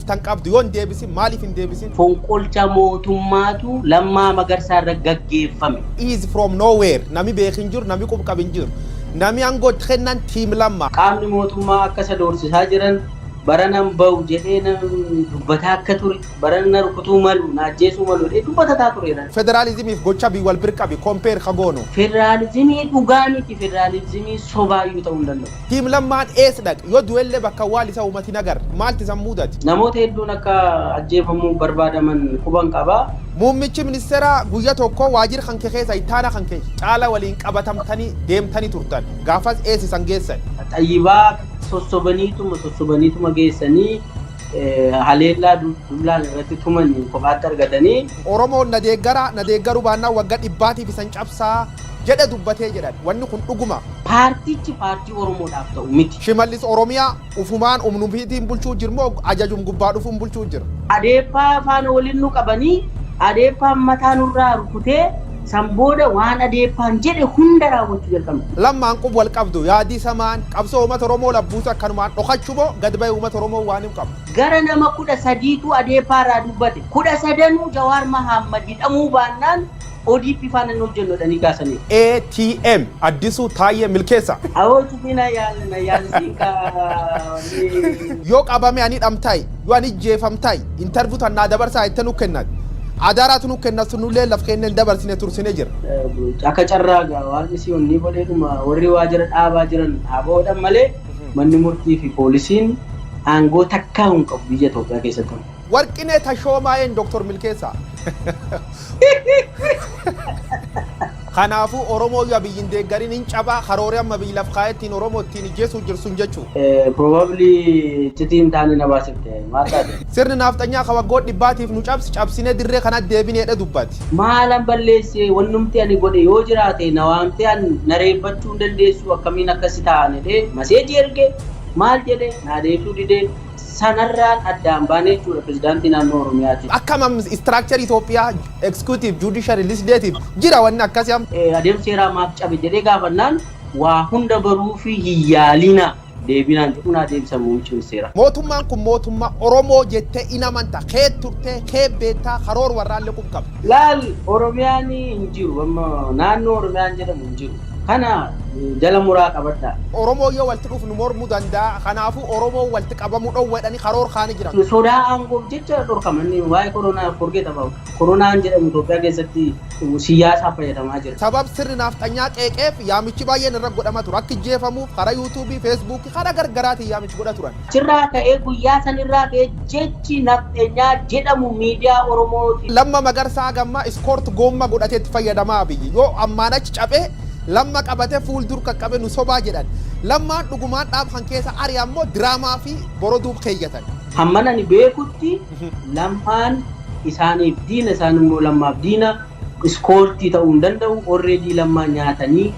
tan qabdu yoo hin deebisin maaliif hin deebisin? Fonqolcha mootummaatu Lammaa Magarsaa irra gaggeeffame. is from no where nami beekh hin jiru nami qub qab hin jiru nami ango itti kennan team lamma. Qaamni mootummaa akka isa doorsisaa jiran, barana hin bahu jedhee dubbataa akka ture, barana na rukutuu malu, na ajjeesuu malu jedhee dubbatataa tureera. Federalizimiif gocha bii wal bir qabi, compare, ka goonu. Federalizimii dhugaa miti, federalizimii sobaa iyyuu ta'uu hin danda'u. Team Lammaan eess dhaqe? Yoo du'ellee bakka awwaal isa uumat hin agarre. Maalt isan muudate? Namoota hedduun akka ajjeefamuuf barbaadaman quban qaba. Muummichi ministeeraa guyya tokko waajir kanke keessa ittaana kanke caala waliin qabatamtani deemtani turtan. Gaafas eess isan geessan? Xayyibaa sossobaniituma sossobaniituma geessanii haleellaa dullaan irratti tuman kophaatti argatanii. Oromoon na deeggara, na deeggaru baannaan wagga dhibbaatiif isan cabsa jedhe dubbate jedhan. Wanni kun dhuguma? Paartichi paartii Oromoodhaaf ta'u miti. Shimallis Oromiyaa ufumaan umnum fiitiin bulchuu jir moo ajajum gubbaa dhufuun bulchuu jir? Adeeppaa faana waliin nu qabanii Adeeppaan mataa nurraa rukutee san booda waan Adeeppaan jedhe hunda raawwachuu jalqabna. Lammaan qub wal qabdu? Yaadii samaan qabsoo uumata Oromoo laf buusa akkanumaan dhokachu moo gad bahee uumata Oromoo waan him qabdu? Gara nama 13 tu Adeeppaa irraa dubbate. 13 nuu Jawaar Mahaammad hidhamuu baannaan ODP faana hin hojjennu jedhanii kaasaniiru. ATM, Addisuu, Taayyee, Milkeessaa. Awoo cufii na yaal na yaal siin kaawanii. Yoo qabame ani dhamtai yoo ani ijjeefamtai interview tan naa dabarsaa jette nu kennat adara tu nu kennat sun nulleen laf keenya hin dabarsine tursine jirra. Akka carraa egaa waaqni si onnii godheetuma warri waajira dhaabaa jiran haa bahoodhan malee manni murtii fi poolisiin aangoo takkaahuu hin qabu biyya Itoophiyaa keessatti. Warqinee Tashoomaa and Dr. Milkeessaa. Kanaafuu Oromoo yoo Abiyyi hin deeggarin hin caba, karoori amma Abiyyi laf kaa'ee ittiin Oromoo ittiin ijjeesuu jiru sun jechuu. Probably iccitii hin taane na baasifte. Maal taate? Sirni naafxanyaa ka waggoota dhibbaatiif nu cabse cabsinee dirree kanatti deebine jedhee dubbate. Maalan balleesse? Wannumti ani godhe yoo jiraate na waamtee an na reebbachuu hin dandeessuu akkamiin akkasi ta'aan jedhee maseejii erge. Maal jedhe? Naa deebisuu dide. sanarraan addaan baane jechuudha Pirezidaantii Naannoo Oromiyaatiin. Akkam am structure Ethiopia executive, judiciary, legislative jira wanni akkasi am. Adeemsi seeraa maaf cabe jedhee gaafannaan waa hunda baruufii hin yaaliina deebii naan jedhu naa deebisan muummichi ministeeraa. Mootummaan kun mootummaa Oromoo jettee in amanta, keet turte, keet beetta, karoor warraallee qub qabda. Laal Oromiyaan hin jiru amma naannoo Oromiyaan jedhamu hin jiru. Kana jala muraa qabadhaa. Oromoon yoo walti dhuuf nu mormu danda'a. Kanaafuu Oromoon walti qabamu dhowwa jedhani karoor kaani jiran. Sodaa aangoof jecha dhorkaman. Waa'ee koronaa forget about. Koronaan jedhamu Itoophiyaa keessatti siyyaasaaf fayyadamaa jira. Sabab sirni naafxanyaa qeeqeef yaamichi baay'een irra godhama ture. Akka ijjeefamuuf karaa youtube, facebook, karaa gargaraatiin yaamichi godha turan. Achirraa ka'ee guyyaa sanirraa ka'ee jechi nafxenyaa jedhamu miidiyaa Oromoo ti. Lamma Magarsa haga amma iskoort goomma godhate itti fayyadama Abiy yoo ammaan achi cabe Lamma qabate fuul dur qaqqabe nu sobaa jedhan Lammaan dhugumaan dhaab kan keessa ari ammo diraamaa fi boroduu keeyyatan. Hamman ani beekutti Lammaan isaaniif diina isaan immoo Lammaaf diina iskoortii ta'uu hin danda'u already Lammaa nyaatanii.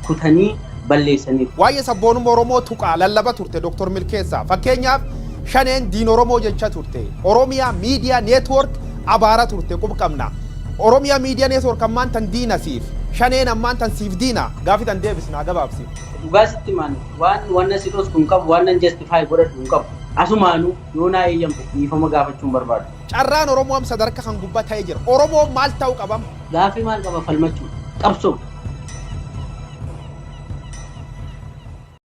kutanii balleessaniiru. Waayee sabboonumma Oromoo tuqaa, lallaba turte Dr. Milkeessaa. Fakkeenyaaf Shaneen diina Oromoo jecha turte. Oromia Media Network abaara turte qub qabna. Oromia Media Network ammaan tan diina siif. Shaneen ammaan tan siif diina? Gaafi tan deebisi naa gabaabsi. Dhugaa sitti himaan waan wanna si dhosku hin qabu, wannan justify godhadhu hin qabu. Asumaanuu yoo naa eeyyamte dhiifama gaafachuun barbaada. Carraan Oromoo am sadarka kan gubba ta'e jira. Oromoon maal ta'u qabam? Gaaffi maal qaba falmachuuf? Qabsoo.